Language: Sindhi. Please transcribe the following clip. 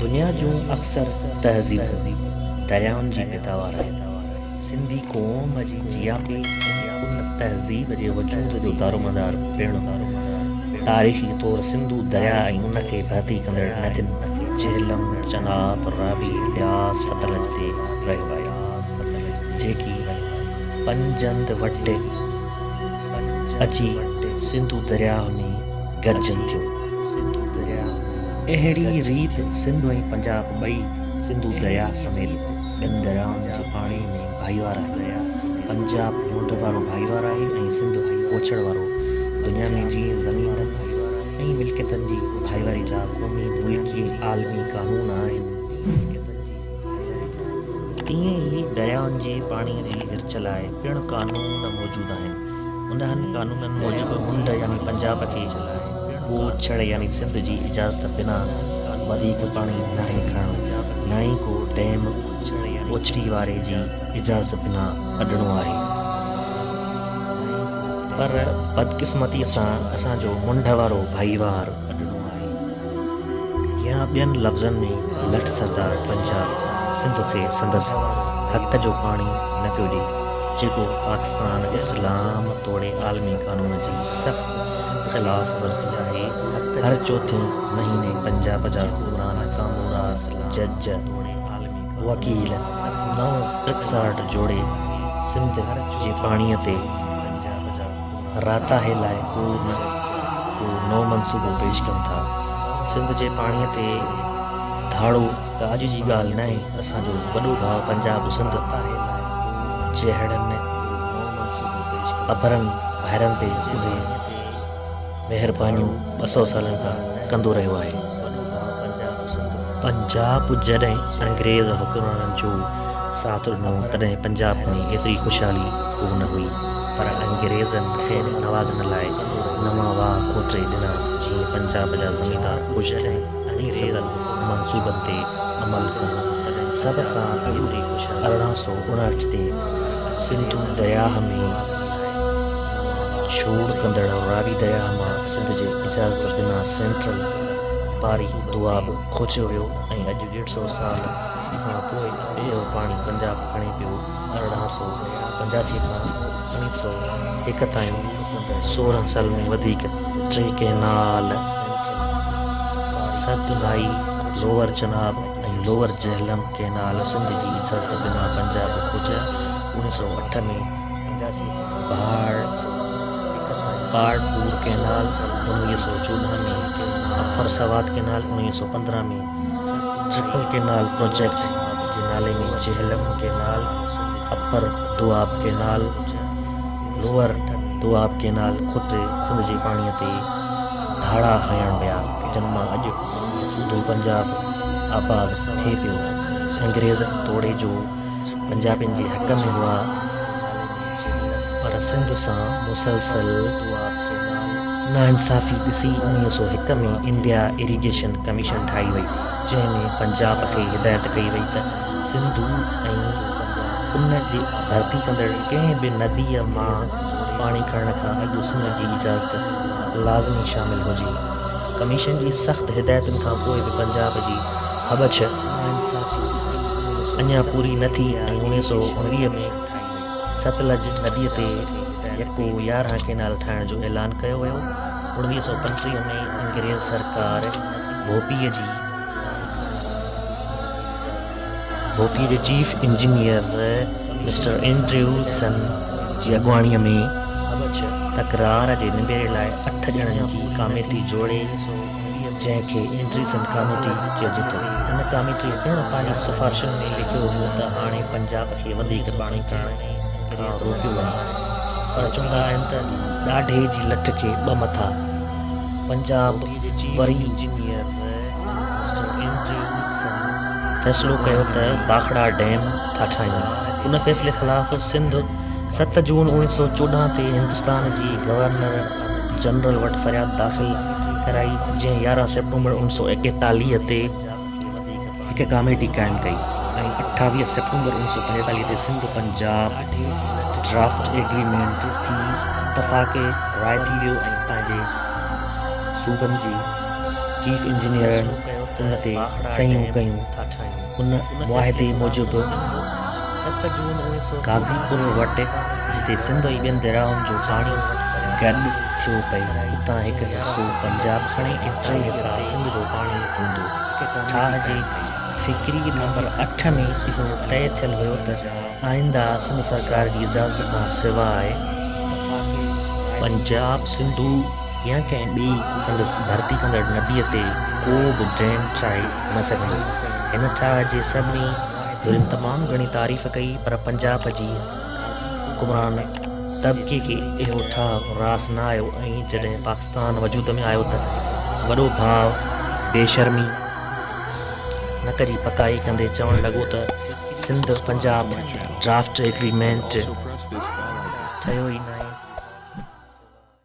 دنيا جون اڪثر تهذيبون دريائن جي پيداوار آهن. سنڌي قوم جي جياپي ۽ ان تهذيب جي وجود جو دارومدار پڻ تاريخي طور سنڌو درياء ۽ ان کي ڀرتي ڪندڙ ندين جهلم، چناب، راوي، بياس، ستلج تي رهيو آهي، جيڪي پنجند وٽ اچي سنڌو درياء ۾ گڏجن ٿيون. سنڌو درياء اهڙي ريت سنڌ ۽ پنجاب ٻئي سنڌو درياء سميت ٻن دريائن جي پاڻي ۾ ڀائيوار آهن. پنجاب ڍونڍ وارو ڀائيوار آهي ۽ سنڌ پوڇڙ وارو. دنيا ۾ جيئن زمينن ۽ ملڪيتن جي ڀائيواري جا قومي، ملڪي ۽ عالمي قانون آهن، تيئن ئي دريائن جي پاڻي جي ورڇ لاء پڻ قانون موجود آهن. انهن قانونن موجب منڍ يعني پنجاب کي ٻوڇڙ يعني سنڌ جي اجازت بنا وڌيڪ پاڻي ناهي کڻڻو نه ئي ڪو ڊيم ٻوڇڙي واري جي اجازت بنا اڏڻو آهي پر بدقسمتي سان اسان جو منڍ وارو ڀائيوار يا ٻين لفظن ۾ لٺ سردار پنجاب سنڌ کي سندس حق جو پاڻي نه پيو ڏئي جيڪو پاڪستان اسلام توڙي عالمي قانون جي سخت خلاف ورزي آهي هر چوٿين مهيني پنجاب جا حڪمران ڪامورا جج وڪيل نئون ٽرڪسارٽ جوڙي سنڌ جي پاڻي تي راتاهي لاء ڪو نه ڪو نئون منصوبو پيش ڪن ٿا. سنڌ جي پاڻي تي ڌاڙو ڪا اڄ جي ڳالهه ناهي، اسان جو وڏو ڀاء پنجاب سنڌ جهڙن اڀرن ڀائرن تي اهي مهربانيون ٻه سئو سالن کان ڪندو رهيو آهي. پنجاب جڏهن انگريز حڪمرانن جو ساٿ ڏنو تڏهن پنجاب ۾ ايتري خوشحالي ڪو نه هئي پر انگريزن کين نوازڻ لاء نوان واهه کوٽي ڏنا جيئن پنجاب جا زميندار خوش ٿين ۽ سندن منصوبن تي عمل ڪن سڀ کان اڳ ارڙهن سؤ اڻهٺ تي سنڌو درياهه ۾ ڇوڙ ڪندڙ راوي درياهه مان سنڌ جي اجازت بنا سينٽرل پاري دوآب کوڇيو ويو ۽ اڄ ڏيڍ سئو سال کان پوء اهو پاڻي پنجاب کڻي پيو. ارڙهن سئو پنجاسي کان اوڻيھ سئو هڪ تائين سورهن سال ۾ وڌيڪ ٽي ڪئنال سنڌ نائي، lower Chenab ۽ lower Jhelum canal Sindh جي اجازت بنا پنجاب کوچيا. اوڻيھ سئو اٺ ۾ پهاڙ، پاڙ پور ڪئنال، انويهه سؤ چوڏهن ۾، اپر سوات ڪئنال، انويهه سؤ پندرهن ۾، جهپل ڪئنال پروجيڪٽ جي نالي ۾ Jhelum canal, upper Doab canal, lower Doab canal خود سنڌ جي پاڻي تي ڌاڙا هڻڻ ويا، جن مان اڄ سوڌو پنجاب آباد ٿئي پيو. انگريز توڙي جو. پنجابين جي حق ۾ هئا پر سنڌ سان مسلسل ناانصافي ڏسي انويهه سؤ هڪ ۾ انڊيا اريگيشن ڪميشن ٺاهي وئي جنهن ۾ پنجاب کي هدايت ڪئي وئي ته سنڌو ۽ ان جي ڀرتي ڪندڙ ڪنهن به نديء مان پاڻي کڻڻ کان اڳ سنڌ جي اجازت لازمي شامل هجي ڪميشن جي سخت هدايتن کان پوء به پنجاب جي هٻڇ اڃا پوري نه ٿي ۽ اوڻيهه سؤ اڻويهه ۾ ستلج نديء تي يڪو يارهن ڪئنال ٺاهڻ جو اعلان ڪيو ويو. اڻويهه سؤ پنجٽيهه ۾ انگريز سرڪار ڀوپي جي چيف انجنيئر مسٽر اينڊريوسن جي اڳواڻيء ۾ هٻڇ تڪرار جي نبيري لاء اٺ ڄڻن جي ڪاميٽي جوڙي، جنهن کي انڊريسن ڪاميٽي چئجي ٿو. ان ڪاميٽي پڻ پنهنجي سفارشن ۾ لکيو هو ته هاڻي پنجاب کي وڌيڪ پاڻي پيئڻ کان روڪيو وڃي پر چوندا آهن ته ڏاڍي جي لٺ کي ٻه مٿا پنجاب وري انجنيئر مسٽر انڊريسن فيصلو ڪيو ته باکڙا ڊيم ٿا ٺاهيون. ان فيصلي خلاف سنڌ ست جون اوڻيهه سؤ چوڏهن تي هندستان جي گورنر جنرل وٽ فرياد داخل ڪرائي، جنهن يارهن سيپٽمبر اوڻ سؤ ايڪيتاليهه تي هڪ ڪاميٽي قائم ڪئي ۽ اٺاويهه سيپٽمبر اوڻ سؤ پنجيتاليهه تي سنڌ پنجاب ڊرافٽ ايگريمينٽ تي اتفاق راء ٿي ويو ۽ پنهنجي صوبن جي چيف انجنيئرن ان تي صحيحون ڪيون. ان معاهدي موجب قاضي پور وٽ جتي سنڌ ۽ ٻين دريائن جو پاڻي گڏ ٿيو پئي اتان هڪ حصو پنجاب کڻي ۽ ٽي حصا سنڌ جو پاڻي هوندو. ٺاهه جي فڪري نمبر اٺ ۾ اهو طئي ٿيل هيو ته آئنده سنڌ سرڪار جي اجازت کان سواء پنجاب سنڌو، يا ڪنهن ٻئي سندس ڀرتي ڪندڙ نبيء تي ڪو به ڊيم چائي نه سگهندو. هن ٺاهه جي سڀني ڌرين تمام گهڻي تعريف ڪئي پر پنجاب جي حڪمران طبقي کي اهو ٺاهه راس نه آيو ۽ جڏهن پاڪستان وجود ۾ آيو ته وڏو ڀاء بيشرمي نڪ جي پڪائي ڪندي چوڻ لڳو ته سنڌ پنجاب ڊرافٽ ايگريمينٽ ٺهيو ئي ناهي سواء